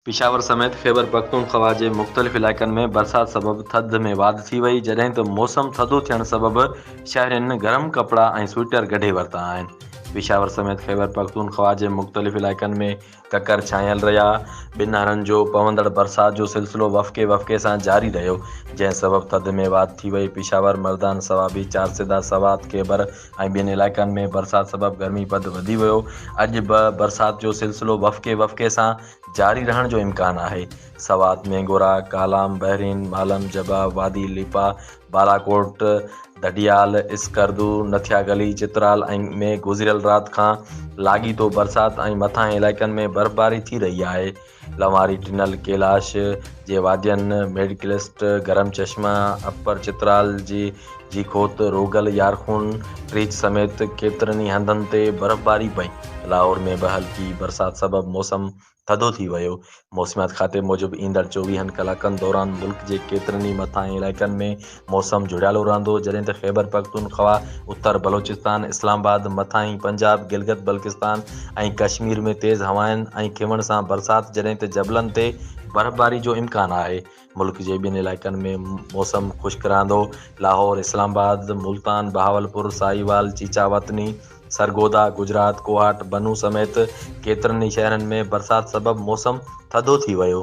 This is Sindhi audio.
پشاور سميت خيبر پختونخوا جي مختلف علائقن ۾ برسات سبب ٿڌ ۾ واڌ ٿي وئي، جڏهن ته موسم ٿڌو ٿيڻ سبب شهرين گرم ڪپڙا ۽ سوئٽر ڪڍي ورتا آهن. پشاور سميت خيبر پختونخوا جي مختلف علائقن ۾ ڪڪر ڇانيل رهيا، ٻنهارن جو پوندڙ برسات جو سلسلو وڦڪي وڦڪي سان جاري رهيو، جنهن سبب ٿڌ ۾ واڌ ٿي وئي، پشاور، مردان، صوابي، چارسده، سوات، خيبر، ۽ ٻين علائقن ۾ برسات سبب گرمي پد وڌي ويو، اڄ به برسات جو سلسلو وڦڪي وڦڪي سان جاري رهڻ جو امڪان آهي، سوات، مينگورا، ڪالام، بحرين، مالم، جبا، وادي ليپا، بالاڪوٽ، ڌڏيال، اسڪردو، نٿيا گلي، چترال ۽ ۾ گذريل رات کان لاڳيتو برسات ۽ مٿانهين علائقن ۾ برفباري ٿي رهي آهي. لنواري ٽنل، ڪيلاش جي وادين، ميڊڪلسٽ، گرم چشمه، اپر چترال جي جي کوت، روگل، يارخون، ٽريچ سميت ڪيترن ئي هنڌن تي برفباري پئي. لاهور ۾ به هلڪي برسات سبب موسم ٿڌو ٿي ويو. موسميات کاتي موجب ايندڙ چوويهن ڪلاڪن دوران ملڪ جي ڪيترن ئي مٿانهين علائقن ۾ موسم جهڙيالو رهندو، جڏهن ته خيبرپختونخوا، اتر بلوچستان، اسلام آباد، مٿانهين پنجاب، گلگت بلڪستان ۽ ڪشمير ۾ تيز هوائن ۽ کيوڻ سان برسات جڏهن ته جبلن تي برفباري جو امڪان آهي. ملڪ جي ٻين علائقن ۾ موسم خشڪ رهندو. لاهور، اسلام آباد، ملتان، بهاولپور، ساهيوال، چيچا وطني، سرگوڌا، گجرات، ڪوهاٽ، بنو سميت ڪيترن ئي شهرن ۾ برسات سبب موسم ٿڌو ٿي ويو.